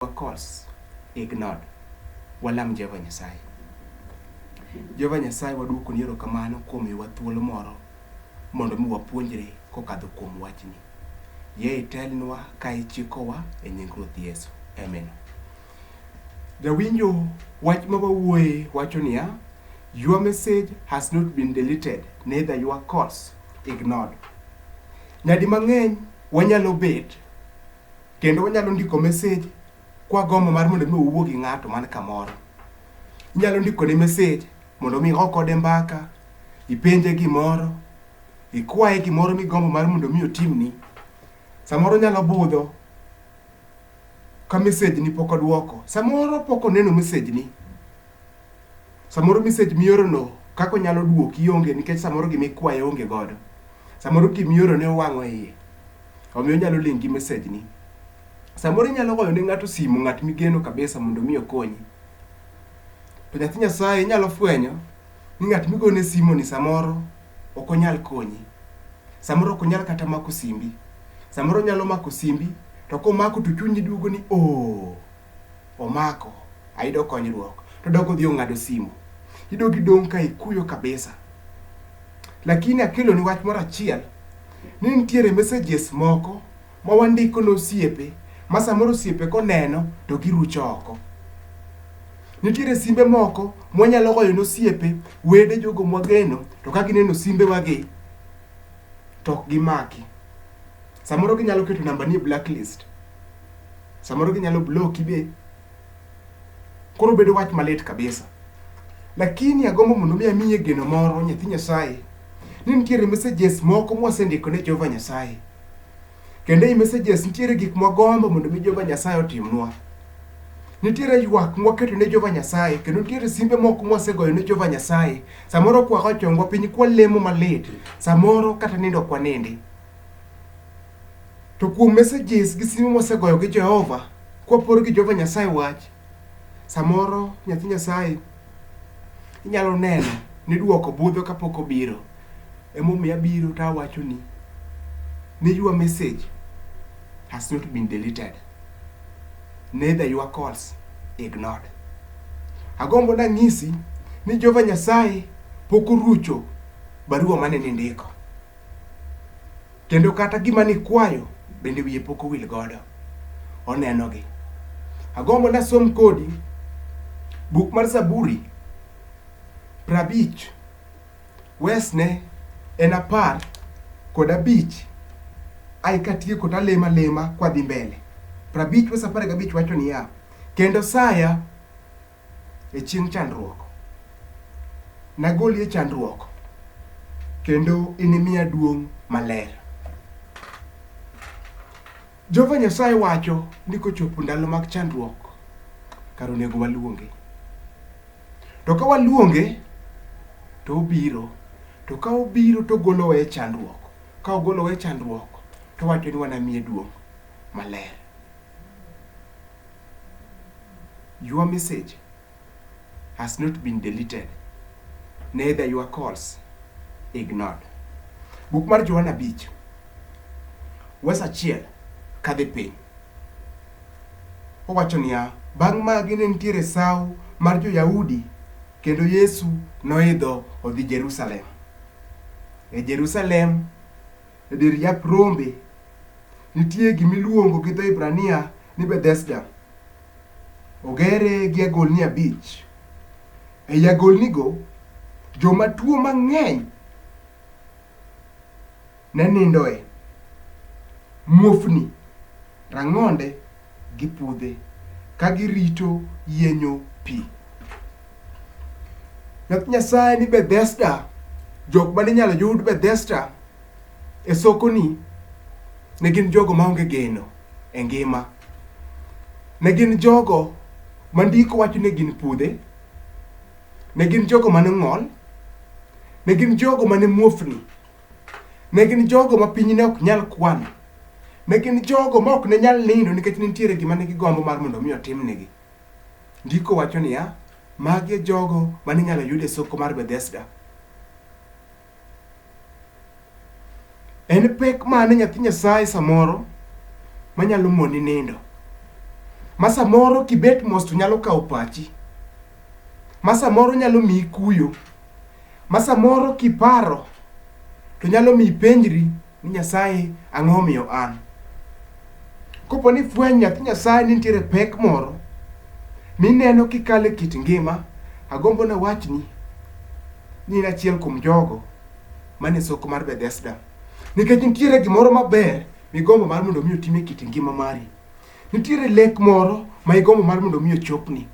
Wakos, ignored. Walam Jehova Nyasaye. Jehova Nyasaye waduokoni erokamano kuom miyowa thuolo moro mondo mi wapuonjre kokadho kuom wachni. Yie itelnwa ka ichikowa e nying Ruoth Yesu. Amen. Jawinjo wach ma wawuoye wacho niya, Your message has not been deleted, neither your calls ignored. Nyadi mang'eny wanyalo bet Kendo wanyalo ndiko message kwa gombo mar mondo mi owuo gi ng'ato man kamoro. Inyalo ndiko ne message mondo mi oko kode mbaka, ipenje gimoro, ikwaye gimoro migombo mar mondo mi otimni. Samoro nyalo budho ka message ni pok odwoko. Samoro pok oneno message ni. Samoro message mioro no kako nyalo duoki onge nikech samoro gimikwaye onge godo. Samoro gimioro ne owang'o iye. Omiyo inyalo link gi message ni. Samoro inyalo goyo ne ng'ato simu, ng'at migeno kabisa mondo mi okonyi. To nyathi Nyasaye inyalo fwenyo ni ng'at migone simu ni samoro ok onyal konyi. Samoro ok onyal kata mako simbi. Samoro onyalo mako simbi to komako to chunyi duogo ni oh. omako ayudo konyruok to dok odhi ong'ado simu idogi dong' ka ikuyo kabisa lakini akelo ni wach moro achiel ni nitiere messages moko ma wandiko ne osiepe ma samoro osiepe koneno to girucho oko nitiere simbe moko mwanyalo goyo ne osiepe wede jogo mwageno to ka gineno simbewagi to ok gimaki Samoro ginyalo keto namba ni blacklist. Samoro ginyalo block ibe. Koro bedo wach malit kabisa. Lakini agombo mondo mi amiye geno moro nyathi Nyasaye ni nitiere messages moko mwasendiko ne Jehova Nyasaye. Kendo ei messages nitiere gik mwagombo mondo mi Jehova Nyasaye otimnwa. Nitiere ywak mwaketo ne Jehova Nyasaye kendo nitiere simbe moko mwasegoyo ne Jehova Nyasaye. Samoro kwago chongwa piny kwalemo malit. Samoro kata nindo kwanindi. To kuom messages gi simo mwasegoyo gi Jehova, kwapor gi Jehova Nyasaye wach, samoro nyathi Nyasaye inyalo neno ni duoko budho kapok obiro. Emomiyo abiro to awacho ni, ni your message has not been deleted, neither your calls ignored. Agombo nang'isi ni Jehova Nyasaye pok orucho barua mane nindiko. Kendo kata gima nikwayo bende wiye pok owil godo. Onenogi. Agombo nasom kodi buk mar Zaburi prabich wesne en apar kod abich ai katieko talemo alema kwadhi mbele. Prabich wes apar gabich wacho niya, kendo saya e chieng' chandruok. Nagoli e chandruok kendo inimiya duong' maler. Jehova Nyasaye wacho ni kochopo ndalo mag chandruok, kar onego waluonge. To ka waluonge, to obiro. To ka obiro to ogolowa e chandruok. Ka ogolowa e chandruok, to owacho ni wanamiye duong' maler. Your message has not been deleted, neither your calls ignored. Buk mar Johana Bich, wes achiel kadhi piny. Owacho niya, bang' magi ne nitiere sawo mar jo-Yahudi kendo Yesu noidho odhi Jerusalem. E Jerusalem, e dir yap rombe, nitie gimiluongo gi dho Hibrania ni Bethesda ogere gi agolni abich. Ei agolnigo, joma tuo mang'eny ne nindoe, muofni, rang'onde gi pudhe ka girito yienyo pi. Wach Nyasaye ni Bethesda, jok mane inyalo yud Bethesda e sokoni ne gin jogo maonge geno e ngima. Ne gin jogo ma ndiko wacho ni gin pudhe, ne gin jogo mane ng'ol, ne gin jogo mane muofni, ne gin jogo ma piny ne ok nyal kwano, ne gin jogo ma ok ne nyal nindo nikech ne nitiere gima ne gigombo mar mondo mi otimnegi. Ndiko wacho niya, magi e jogo mane inyalo yud e soko mar Bethesda. En pek mane nyathi Nyasaye samoro manyalo moni nindo? Ma samoro kibet mos to nyalo kawo pachi. Ma samoro nyalo miyi kuyo. Ma samoro kiparo to nyalo miyi ipenjri. ni Nyasaye ang'o omiyo an. Kopo ni fweny nyathi Nyasaye ni nitiere pek moro mineno kikale kit ngima, agombo na wachni ni in achiel kuom jogo mane soko mar Bethesda. Nikech nitiere gimoro maber migombo mar mondo mi otime kit ngima mari. Nitiere lek moro ma igombo mar mondo mi ochopni.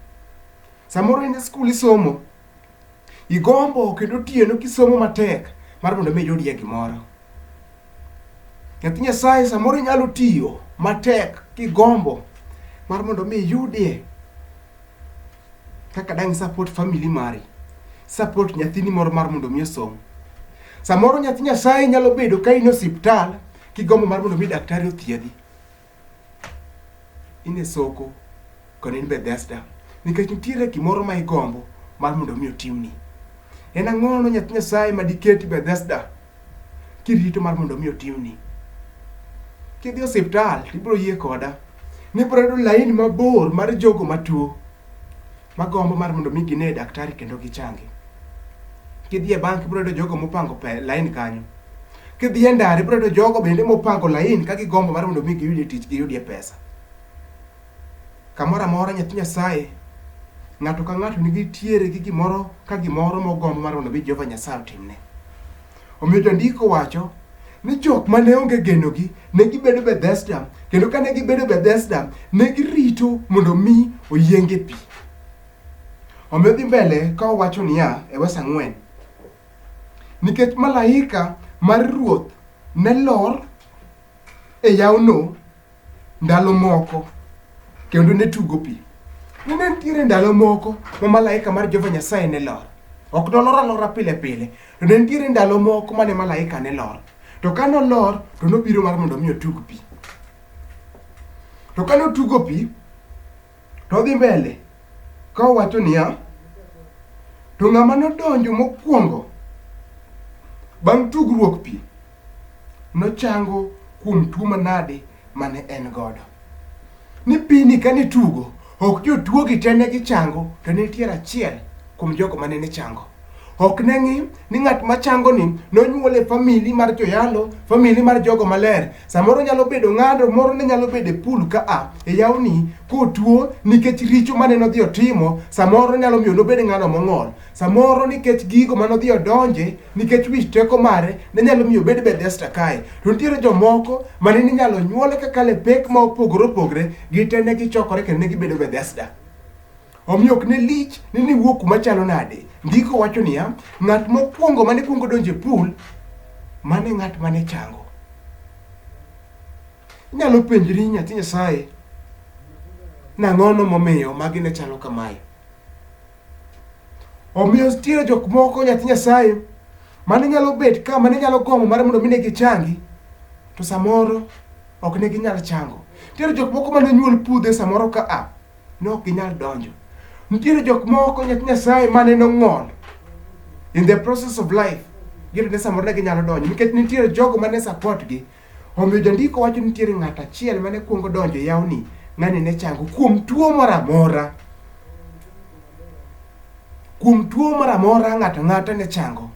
Samoro in e skul isomo, Igombo kendo otieno kisomo matek mar mondo mi iyudie gimoro. Nyathi Nyasaye samoro inyalo tiyo matek kigombo mar mondo mi iyudie kaka dang' support family mari, support nyathini moro mar mondo mi osom. Samoro nyathi Nyasaye nyalo bedo ka in e osiptal kigombo mar mondo mi daktari othiedhi. in e soko kendo in Bethesda nikech nitiere gimoro ma igombo mar mondo mi otimni. En ang'ono nyathi Nyasaye ma diketi Bethesda kirito mar mondo mi otimni. Kidhi e osiptal ibiro yie koda nibiro yudo laini mabor mar jogo matuo ma gombo mar mondo mi gine daktari kendo gichangi. Kidhi e bank ibro yudo jogo mopango pe lain kanyo. Kidhi e ndara ibro yudo jogo bende mopango lain ka gigombo mar mondo mi giyudie tich giyudie pesa. Kamoro amora nyathi Nyasaye ng'ato ka ng'ato nigi tiere gi gimoro ka gimoro mogombo mar mondo mi Jehova Nyasaye otimne. Omiyo jandiko wacho ni jok ma ne onge genogi ne gibedo Bethesda, kendo ka ne gibedo Bethesda, ne girito mondo mi oyienge pi. Omiyo dhi mbele ka owacho niya e wes ang'wen, nikech malaika mar Ruoth ne lor e yawno ndalo moko kendo ne tugo pi. Ne ne nitiere ndalo moko ma malaika mar Jehova Nyasaye ne lor. Ok nolor alora pile pile, to ne nitiere ndalo moko mane malaika ne lor. To ka nolor, to nobiro mar mondo mi otug pi. To ka notugo pi, To odhi mbele ka owacho niya, to ng'ama nodonjo mokwongo bang' tugruok pi nochango kuom tuo manade mane en godo. Ni pini kane tugo, ok jotuogi te ne gichango, to ne nitiere achiel kuom jogo ma nene chango. Ok ne ng'i ni ng'at ma chango ni nonyuol e famili mar joyalo, famili mar jogo maler. Samoro nyalo bedo ng'ado moro ne nyalo bedo e pool ka a e yawni kotuo nikech richo mane nodhi otimo, samoro nyalo miyo nobed ng'ano mong'ol. Samoro nikech gigo mane odhi odonje, nikech wich teko mare, ne nyalo miyo obed Bethesda kae. To nitiere jomoko ma ne inyalo nyuole kakalo e pek ma opogore opogre, gite ne gichokore kendo ne gibedo Bethesda. Omiyo ok ne lich ni niwuo kuma chalo nade. Ndiko wacho niya, ng'at mokwongo mane kwongo donjo e pool, mane ng'at mane chango. Inyalo penjri nyathi Nyasaye, nang'ono momiyo magi ne chalo kamae? Omiyo nitiere jok moko nyathi Nyasaye mane nyalo bet ka mane nyalo gombo mar mondo mi ne gichangi to samoro ok ne ginyal chango. Nitiere jok moko mane nyuol pudhe samoro ka a ne ok ginyal donjo. Nitiere jok moko nyathi Nyasaye mane nong'ol in the process of life gino ne samoro ne ginyalo donjo nikech nitiere jogo mane support gi omiyo jandiko wacho nitiere ng'at achiel mane kuongo donjo e yawni ng'ani ne chango kuom tuo moro amora kuom tuo moro amora ng'ato ng'ata ne chango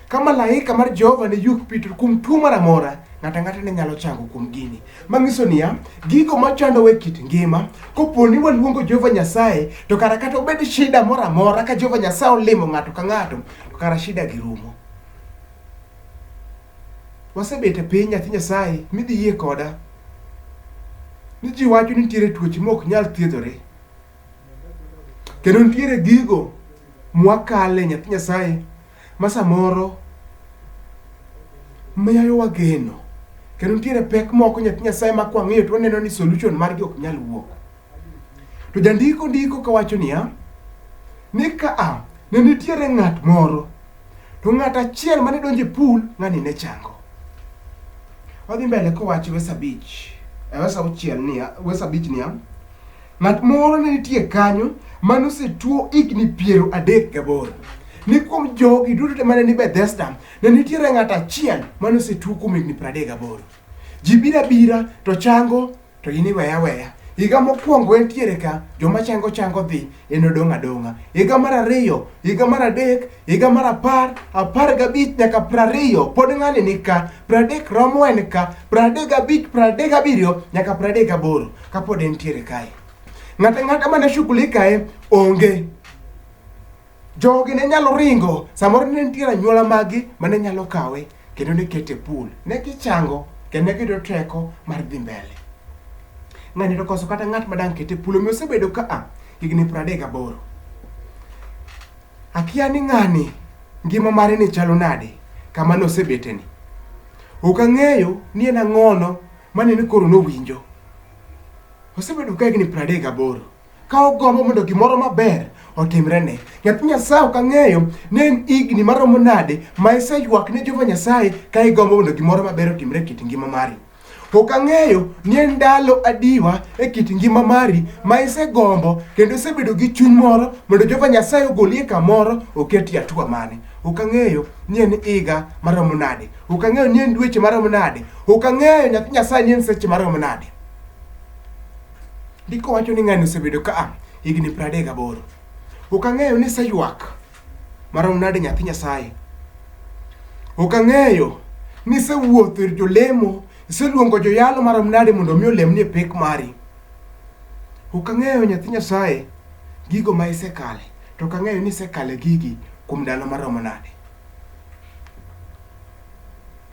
Ka malaika mar Jehova ne yuk Petro kuom tuo moro amora, ng'ato ang'ata ne nyalo chango kuom gini. Manyiso niya, gigo machandowa e kit ngima, kopo ni waluongo Jehova Nyasaye, to kara kata obed shida moro amora, ka Jehova Nyasaye olimo ng'ato ka ng'ato, to kara shida gi rumo. Wasebet e piny nyathi Nyasaye, midhi yie koda ni ji wacho ni nitiere tuoche mok nyal thiedhore. Kendo nitiere gigo mwakale nyathi Nyasaye ma samoro miyo wageno. Kendo nitiere pek moko nyathi Nyasaye ma kwang'iyo to waneno ni solution margi ok nyal wuok. To jandiko ndiko kawacho niya, ni ka a ne nitiere ng'at moro to ng'at achiel mane donjo e pool ng'ani ne chango. Wadhi mbele kowacho verse abich, eh, verse auchiel niya, verse abich niya, Ng'at moro ne nitie kanyo ma nosetuo higni piero adek gaboro. Ni kuom jogi duto te mane ni Bethesda, ne nitiere ng'at achiel ma nosetuo kuom higni piero adek gaboro. Ji bira bira to chango to in iweya weya. Higa mokwongo entiere ka, joma chango chango dhi, en odong' adong'a. Higa mar ariyo, higa mar adek, higa mar apar, apar gabich nyaka piero ariyo, pod ng'ani ni ka. Piero adek romo en ka, piero adek gabich, piero adek gabiriyo nyaka piero adek gaboro. kapod entiere kae ng'ata ng'ata mane shughuli kae onge jogi ne nyalo ringo samoro ne nitiere anyuola magi mane nyalo kawe kendo ne kete pool ne gichango kendo ne giyudo teko mar dhi mbele ng'ani to koso kata ng'at madang' kete pool omiyo osebedo ka a higni pradek gaboro akia ni ng'ani ngima mare ni chalo nade kama nosebeteni ok ang'eyo ni en ang'ono Mane ni koro nowinjo. Osebedo ka higni pradek gaboro. Ka ogombo mondo gimoro maber otimrene. Nyathi Nyasaye ok ang'eyo ni en higni maromo nade ma iseywak ne Jehova Nyasaye ka igombo mondo gimoro maber otimre e kit ngima mari. Ok ang'eyo ni en ndalo adiwa e kit ngima mari ma isegombo kendo isebedo gi chuny moro mondo Jehova Nyasaye ogoli e kamoro oketi e atua mane. Ok ang'eyo ni en higa maromo nade. Ok ang'eyo ni en dweche marom nade. Ok ang'eyo nyathi Nyasaye ni en seche marom nade. Ndiko wacho ni ng'ani osebedo ka a higni piero adek gaboro. Ok ang'eyo ni seywak marom nade nyathi Nyasaye. Ok ang'eyo ni isewuotho ir jolemo, iseluongo joyalo marom nade mondo omi olemni e pek mari. Ok ang'eyo nyathi Nyasaye gigo ma isekale, to ok ang'eyo ni isekale gigi kuom ndalo maromo nade.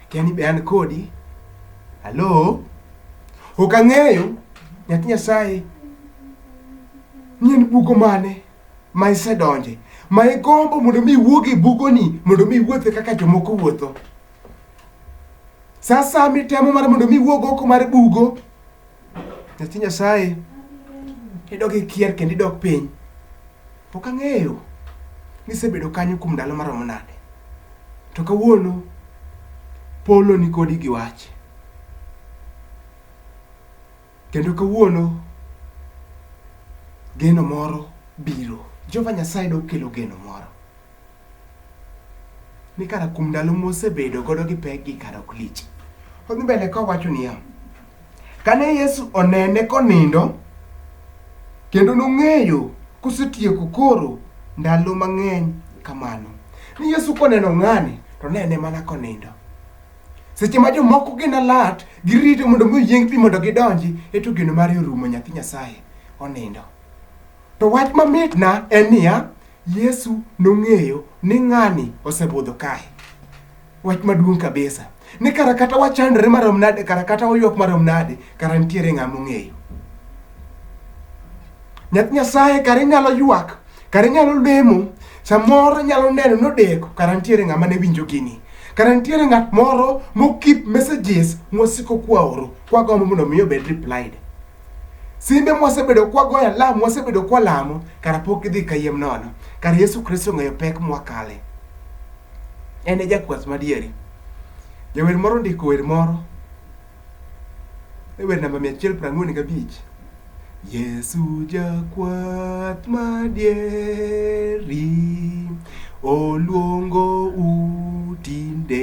Akia ni be an kodi. Halo? Ok ang'eyo nyathi Nyasaye ni en bugo mane ma isedonje ma igombo mondo mi iwuog e bugoni mondo mi iwuothe kaka jomoko wuotho. Sa asaya mitemo mar mondo mi iwuog oko mar bugo nyathi nyasaye idok ikier kendo idok piny pok ang'eyo ni isebedo kanyo kuom ndalo maromo nade to kawuono polo nikodi gi wach kendo kawuono geno moro biro jehova nyasaye dokelo geno moro ni kara kuom ndalo mosebedo godo gi pek gi kara ok lich. Odhi mbele kowacho niya, kane Yesu onene konindo kendo nong'eyo kosetieko koro ndalo mang'eny kamano. Ni Yesu koneno ng'ani to nene mana konindo. Seche ma jomoko gin alert, girito mondo mi oyieng pi mondo gidonji, eto geno mare orumo nyathi Nyasaye onindo. To wach mamitna en niya, Yesu nong'eyo ni ng'ani osebudho kae. Wach maduong' kabisa. Ni kara kata wachandre marom nade, kara kata waywak marom nade, kara nitiere ng'a mong'eyo. Nyath Nyasaye kara inyalo ywak, kara inyalo lemo, samoro inyalo neno nodeko, kara nitiere ng'ama ne winjo gini. Kara nitiere ng'at moro mokip messages mwasiko kwaoro, kwagombo mondo mi obed replied. Simbe mwasebedo kwagoyo alam, mwasebedo kwalamo, kara pok gidhi kayiem nono. Kara Yesu Kristo ong'eyo pek mwakale. En e jakwath madieri. Jawer moro ondiko wer moro e wer namba 145. Yesu jakwath madieri oluongo u tinde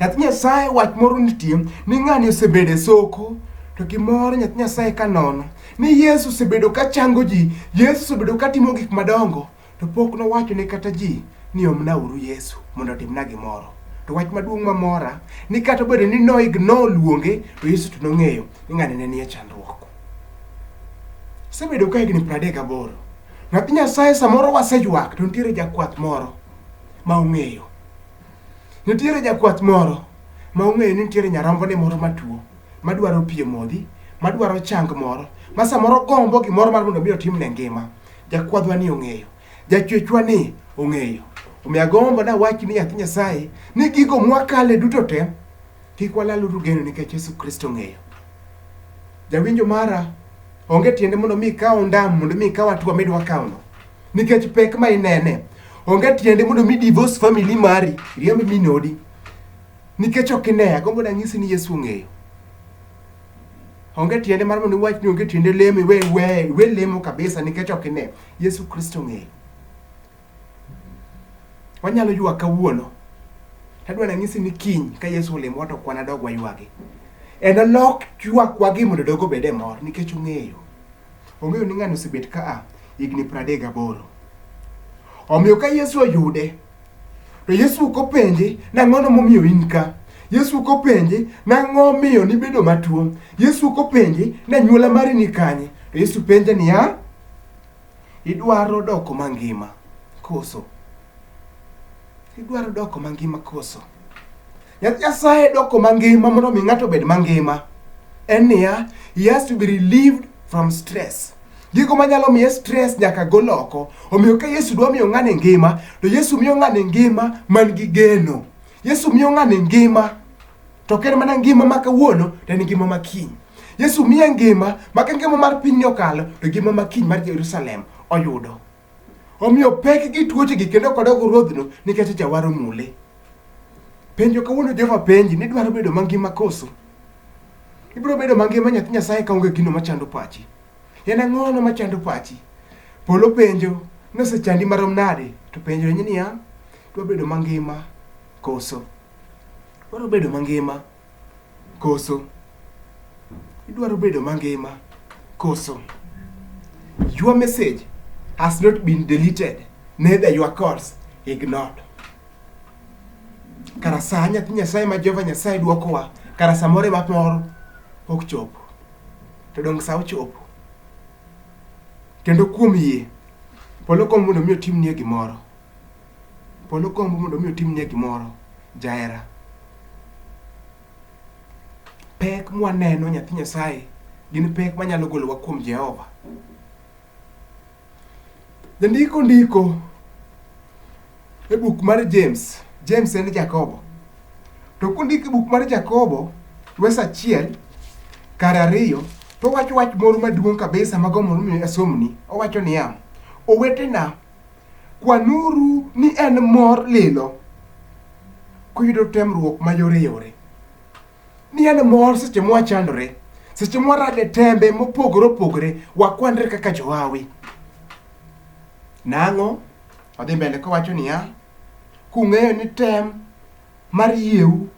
Nyathi Nyasaye wach moro nitie ni ng'ani osebedo e soko to gimoro nyathi Nyasaye ka nono ni Yesu osebedo ka chango ji, Yesu osebedo ka timo gik madongo to pok nowacho ne kata ji ni omna uru Yesu mondo otimna gimoro. To wach maduong' mamora ni kata obedo ni no ignore luonge to Yesu to nong'eyo ni ng'ani ne nie chandruok. Osebedo ka higni 38. Nyathi Nyasaye samoro waseywak to nitiere jakwath moro ma ong'eyo Nitiere jakwath moro ma ong'eyo ni nitiere nyarombone moro matuo madwaro pi modhi, madwaro chang moro, ma samoro gombo gimoro mar mondo mi otimne ngima. Jakwadhwa ni ong'eyo, jachwechwa ni ong'eyo. Omiyo agombo nawach ni nyathi Nyasaye ni gigo mwakale duto te kik walaluru geno nikech Yesu Kristo ong'eyo. Jawinjo mara, onge tiende mondo mi ikaw ondam mondo mi ikaw atua midwa kawno. nikech pek ma inene. Onge tiende mondo mi divorce family mari, riemb min odi. Nikech ok ine, agombo danyisi ni Yesu ong'eyo. Onge tiende mar mondo iwach ni onge tiende lemo iwe iwe iwe lemo kabisa nikech ok ine. Yesu Kristo ong'eyo. Wanyalo ywak kawuono. Tadwa nanyisi ni kiny ka Yesu olemo wato kwana dog waywagi. En olok ywakwa gi mondo dogo bede mor nikech ong'eyo. Ong'eyo ni ng'ani osebet ka a higni pradek gaboro. Omiyo ka Yesu oyude, to Yesu ok openje nang'ono momiyo in ka. Yesu ok openje nang'o omiyo nibedo matuo. Yesu ok openje ni anyuola mari ni kanye. To Yesu penje niya, idwaro doko mangima koso? Idwaro doko mangima koso? Yath Nyasaye doko mangima mondo mi ng'ato obed mangima en niya, he has to be relieved from stress. Gigo manyalo miye stress nyaka gol oko. Omiyo ka Yesu dwa miyo ng'ani ngima, to Yesu miyo ng'ani ngima man gi geno. Yesu miyo ng'ani ngima to ok en mana ngima ma kawuono to en ngima ma kiny. Yesu miye ngima ma ka ngima mar pinyni okalo to ngima ma kiny mar Jerusalem oyudo. Omiyo pek gi tuoche gi kendo kodok ruodhno nikech jawar omule. Penjo kawuono Jehova penji ni dwaro bedo mangima koso? Ibiro bedo mangima nyathi Nyasaye kaonge gino machando pachi. En ang'ono machando pachi? Polo penjo nosechandi marom nade to penjo ni niya, dwa bedo mangima koso? Dwaro bedo mangima. koso? Idwaro bedo mangima koso? Your message has not been deleted, neither your calls ignored. Kara sa nyathi Nyasaye ma Jehova Nyasaye dwokowa, kara samoro ema moro ok chopo. To donge sa ochopo? Kendo kuom yie, polo kom mondo mi otimnie gimoro. Polo gombo mondo mi otimnie gimoro jahera. Pek mwaneno nyathi Nyasaye gin pek manyalo golowa kuom Jehova. Jandiko ndiko e buk mar James, James en Jakobo. To kondiko e buk mar Jakobo, wes achiel kar ariyo, to owacho wach moro maduong' kabisa mago mondo mi asomni. Owacho niya, owetena Kwanuru ni en mor lilo kuyudo temruok mayoreyore, ni en mor seche mwachandore, seche mwarade tembe mopogore opogore, wakwanre kaka johawi. Nang'o? Odhi mbele kowacho niya, kung'eyo ni tem mar yieu.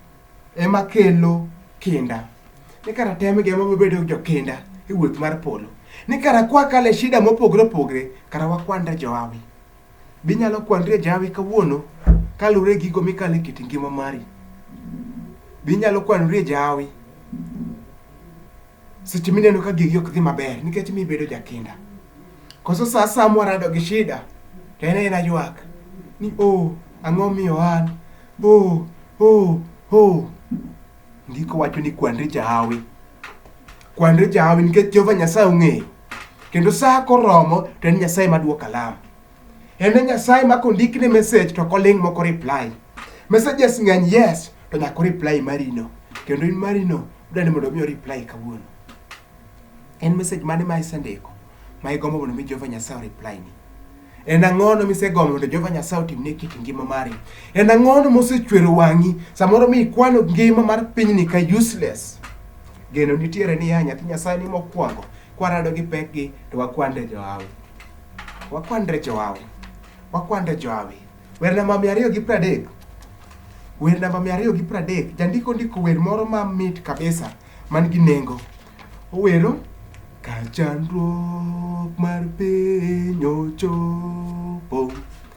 ema kelo kinda. Ni kara tem gi ema wabedo jokinda e wuoth mar polo. Ni kara kwa kale shida mopogre opogre, kara wakwanda Johawi. Binyalo kwandre Johawi kawuono kalure gigo mikale kit ngima mari. Binyalo kwanore Johawi. seche mineno ka gigi ok dhi maber nikech mi bedo jakinda koso sa sa mwarado gi shida to en ena ywak ni o oh, ang'o miyo an o oh, o oh, o oh. ndiko wacho ni kwandri jahawi kwandri jahawi nikech jehova nyasaye ong'eyo kendo sa koromo to en nyasaye maduoko alama En e Nyasaye ma kondikne message to koling' moko reply. Messages ng'eny yes to nyako reply marino. Kendo in marino dwani mondo mi reply kawuono. En message mane ma isendiko ma igombo mondo mi Jehova Nyasaye reply ni? En ang'ono misegombo mondo Jehova Nyasaye otimne kit ngima mari? En ang'ono mosechwero wang'i samoro mi ikwano ngima mar pinyni ka useless? Geno nitiere niya nyathi Nyasaye ni mokwongo kwarado gi pekgi to wakwande johawi. Wakwanre jowawi. Wakwanre jowawi. Wer namba mia ariyo gi pradek. Wer namba mia ariyo gi pradek. Jandiko ndiko wer moro ma mit kabisa man gi nengo. Owero ka chandruok mar piny ochopo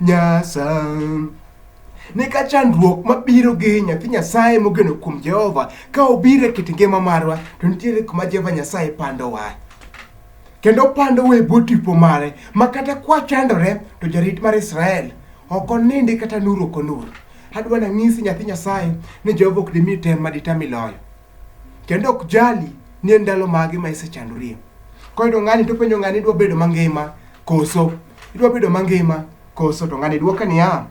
Nyasaye. Ne ka chandruok mabiro gi nyathi Nyasaye mogeno kuom Jehova ka obiro e kit ngima marwa to nitiere kuma Jehova Nyasaye pandowa kendo pandowa e bwo tipo mare ma kata kwachandore to jarit mar Israel ok onindi kata nur ok onur. Adwa nang'isi nyathi Nyasaye ni Jehova ok dimi tem ma ditami loyo. kendo ok jali ni en ndalo mage ma isechandorie. Koyudo ng'ani to penjo ng'ani idwa bedo mangima koso idwa bedo mangima koso to ng'ani dwoke niya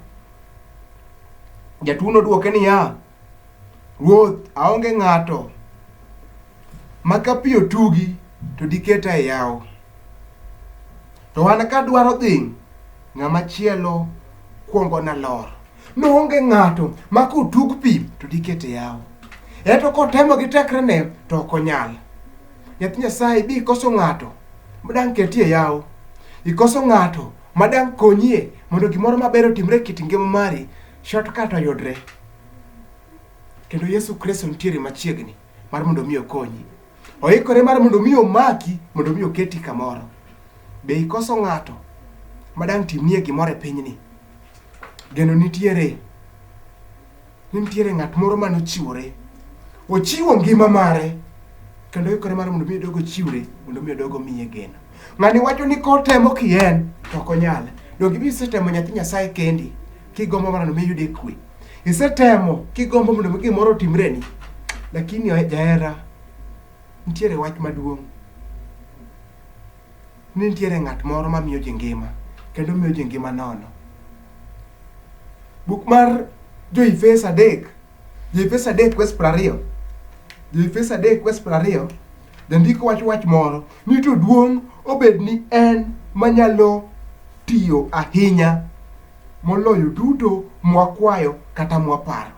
jatuono dwoke niya ruoth aonge ng'ato ma ka pi otugi to diketa e yawo to an kadwaro dhi ng'ama chielo kwongo nalor Noonge ng'ato ma kotug pi to dikete yawo. Eto kotemo gi tekrene to ok onyal. Nyathi Nyasaye bi ikoso ng'ato ma dang' ketie yawo. Ikoso ng'ato ma dang' konyie mondo gimoro maber otimre e kit ngima mari, shortcut oyudre. Kendo Yesu Kristo nitiere machiegni mar mondo mi okonyi. Oikore mar mondo mi omaki, mondo mi oketi kamoro. Be ikoso ng'ato ma dang' timnie gimoro e pinyni? Geno nitiere, ni nitiere ng'at moro mane ochiwore. Ochiwo ngima mare, kendo oikore mar mondo mi odog ochiwre, mondo mi odog omiye geno. Ng'ani wacho ni kotemo ki en, to ok onyal. Donge ibi isetemo nyathi Nyasaye kendi, kigombo mondo mi iyude kwe? Isetemo kigombo mondo mi gimoro otimreni, lakini jahera, nitiere wach maduong'. ni nitiere ng'at moro ma miyo ji ngima kendo miyo ji ngima nono. Buk mar Jo-Efeso adek, Jo-Efeso adek kwes piero ariyo, Jo-Efeso adek kwes piero ariyo, jandiko wacho wach moro ni to duong' obed ni en manyalo tiyo ahinya moloyo duto mwakwayo kata mwaparo.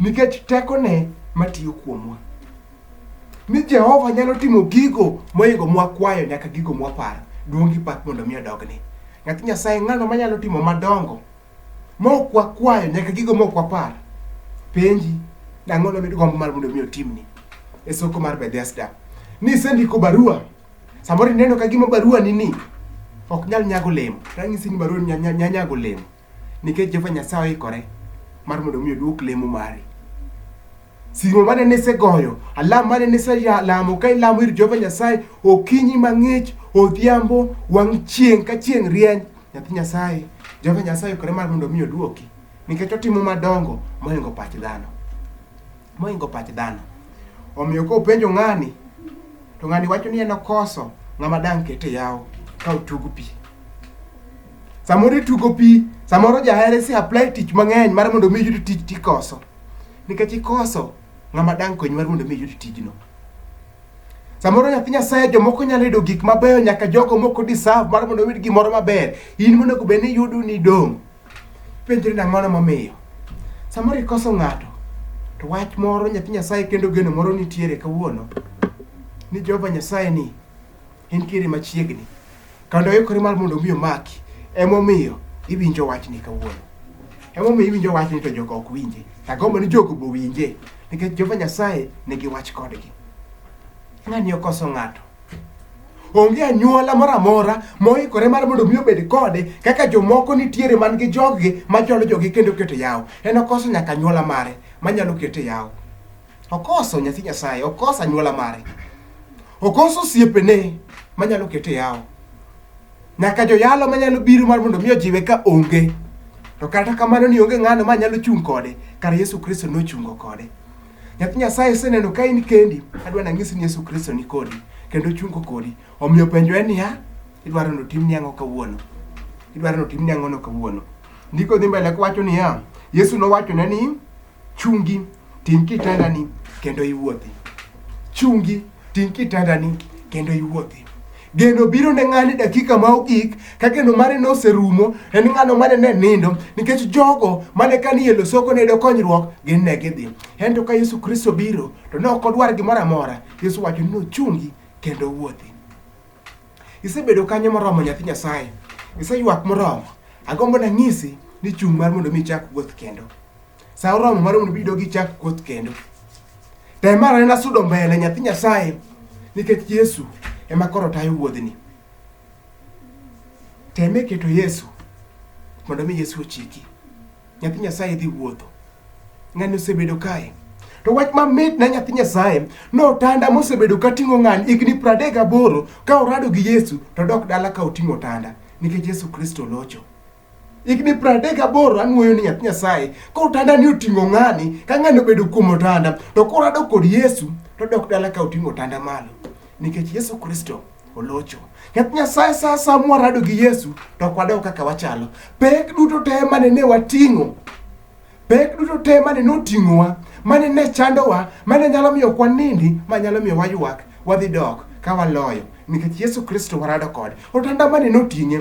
nikech tekone matiyo kuomwa. Ni Jehova nyalo timo gigo moingo mwakwayo nyaka gigo mwaparo. Duong' gi pak mondo mi odogne. Nyathi Nyasaye ng'ano manyalo timo madongo mok wakwayo nyaka gigo mok wapar. Penji, dang'o nomid gombo mar mondo mi otimni e soko mar Bethesda. Ni isendiko barua, samoro ineno ka gima barua ni ni ok nyal nyago olemo. Ranyisi ni barua ni nya- nya- nya- nyago olemo. Nikech Jehova Nyasaye oikore mar mondo mi oduok lemo mari. Simo mane nisegoyo, alam mane niselamo ka ilamo ir Jehova Nyasaye okinyi mang'ich, odhiambo, wang' chieng' ka chieng' rieny, nyathi Nyasaye, Jehova Nyasaye oikore mar mondo mi oduoki nikech otimo madongo moingo pach dhano. Moingo pach dhano. Omiyo ka openjo ng'ani to ng'ani wacho ni en okoso ng'ama dang' kete yawo ka otugo pi. samoro itugo pi samoro jahere si apply tich mang'eny mar mondo mi yud tich tikoso nikech ikoso ng'ama dang' konyi mar mondo mi yud tijno samoro nyathi nyasaye jomoko nyalo yudo gik mabeyo nyaka jogo moko deserve mar mondo oyud gimoro maber in monego bed ni yudo ni dong' penjri nang'ono momiyo samoro ikoso ng'ato to wach moro nyathi nyasaye kendo geno moro nitiere kawuono ni jehova nyasaye ni entiere machiegni kendo ikore mar mondo mi omaki emomiyo iwinjo wachni kawuono emomiyo iwinjo wachni to jogo ok winje agombo ni jogo bo winje nikech jehova nyasaye nigi wach kodgi ng'ani okoso ng'ato onge anyuola moro amora moikore mar mondo mi obed kode kaka jomoko nitiere man gi joggi macholo jogi kendo keto yawo en okoso nyaka anyuola mare manyalo kete yawo Okoso nyathi Nyasaye, okoso anyuola mare, okoso osiepene manyalo kete yawo, nyaka joyalo manyalo biro mar mondo mi ojiwe ka onge. To kata kamano ni onge ng'ano ma nyalo chung' kode, kar Yesu Kristo nochungo kode. Nyathi Nyasaye iseneno ka in kendi, adwa nang'isi ni Yesu Kristo ni kodi kendo ochungo kodi. Omiyo penjo en niya, idwaro ni otimni ang'o kawuono? Idwaro ni otimni ang'ono kawuono? Ndiko dhi mbele kowacho niya, Yesu nowachone ni Chungi, ting' kitandani kendo iwuothi. Chungi, ting' kitandani kendo iwuothi. Geno biro ne ng'ani dakika ma ogik ka geno mare ne oserumo en ng'ano mane ne nindo nikech jogo mane ka ni e losoko ne yudo konyruok gin ne gidhi. Ento ka Yesu Kristo biro to ne ok odwar gimoro amora. Yesu wacho ni ochungi kendo wuothi. Isebedo kanyo moromo nyathi Nyasaye. Iseywak moromo. Agombo nanyisi ni chung' mar mondo mi ichak wuoth kendo. Sa oromo mar mondo ibed gi chak koth kendo. Tem mar anena sudo mbele nyathi Nyasaye nikech Yesu ema koro tayo wuodhni. Tem e keto Yesu mondo mi Yesu ochiki. Nyathi Nyasaye dhi wuotho. Ng'ani osebedo kae. To wach mamit na nyathi Nyasaye notanda mosebedo ka ting'o ng'ani higni pradek gaboro ka orado gi Yesu to dok dala ka oting'o otanda nikech Yesu Kristo locho. higni pradek gaboro anwoyo ni nyathi nyasaye ka otanda ni oting'o ng'ani ka ng'ani obedo kuom otanda to koro adok kod yesu to dok dala ka oting'o otanda malo nikech yesu kristo olocho nyathi nyasaye sa sa mwarado gi yesu to ok wadog kaka wachalo pek duto te mane ne wating'o pek duto te mane noting'owa mane ne chandowa mane nyalo miyo kwanindi ma nyalo miyo waywak wadhi dok ka waloyo nikech yesu kristo warado kode otanda mane noting'e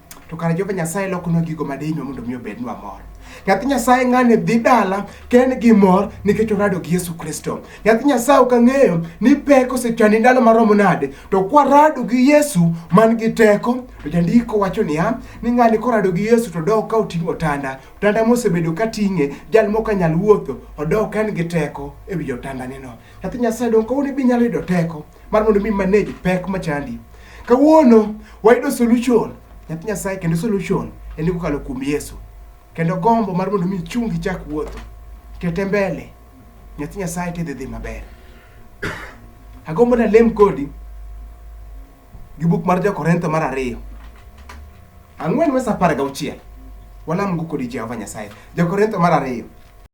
to kare Jehova Nyasaye lokonwa gigo ma dihinwa mondo mi obednwa mor. Nyathi Nyasaye ng'ani dhi dala ken gi mor nikech orado gi Yesu Kristo. Nyathi Nyasaye ok ang'eyo ni pek osechani ndalo maromo nade, to kwarado gi Yesu man gi teko, to jandiko wacho niya, ni ng'ani korado gi Yesu to dok ka oting'o otanda. Otanda mosebedo ka ting'e, jal mok anyal wuotho, odok en gi teko e wi otandaneno. Nyathi Nyasaye donge kawuono be inyalo yudo teko? mar mondo mi manage pek machandi. Kawuono wayudo solution nyathi Nyasaye kendo solution en kokalo kuom Yesu. Kendo gombo mar mondo mi chungi chak wuotho kete mbele nyathi Nyasaye tidhi dhi maber. Agombo na lem kodi gi buk mar Jo-Korintho mar ariyo ang'wen wes apar gauchiel walamgo kodi Jehova Nyasaye. Jo-Korintho mar ariyo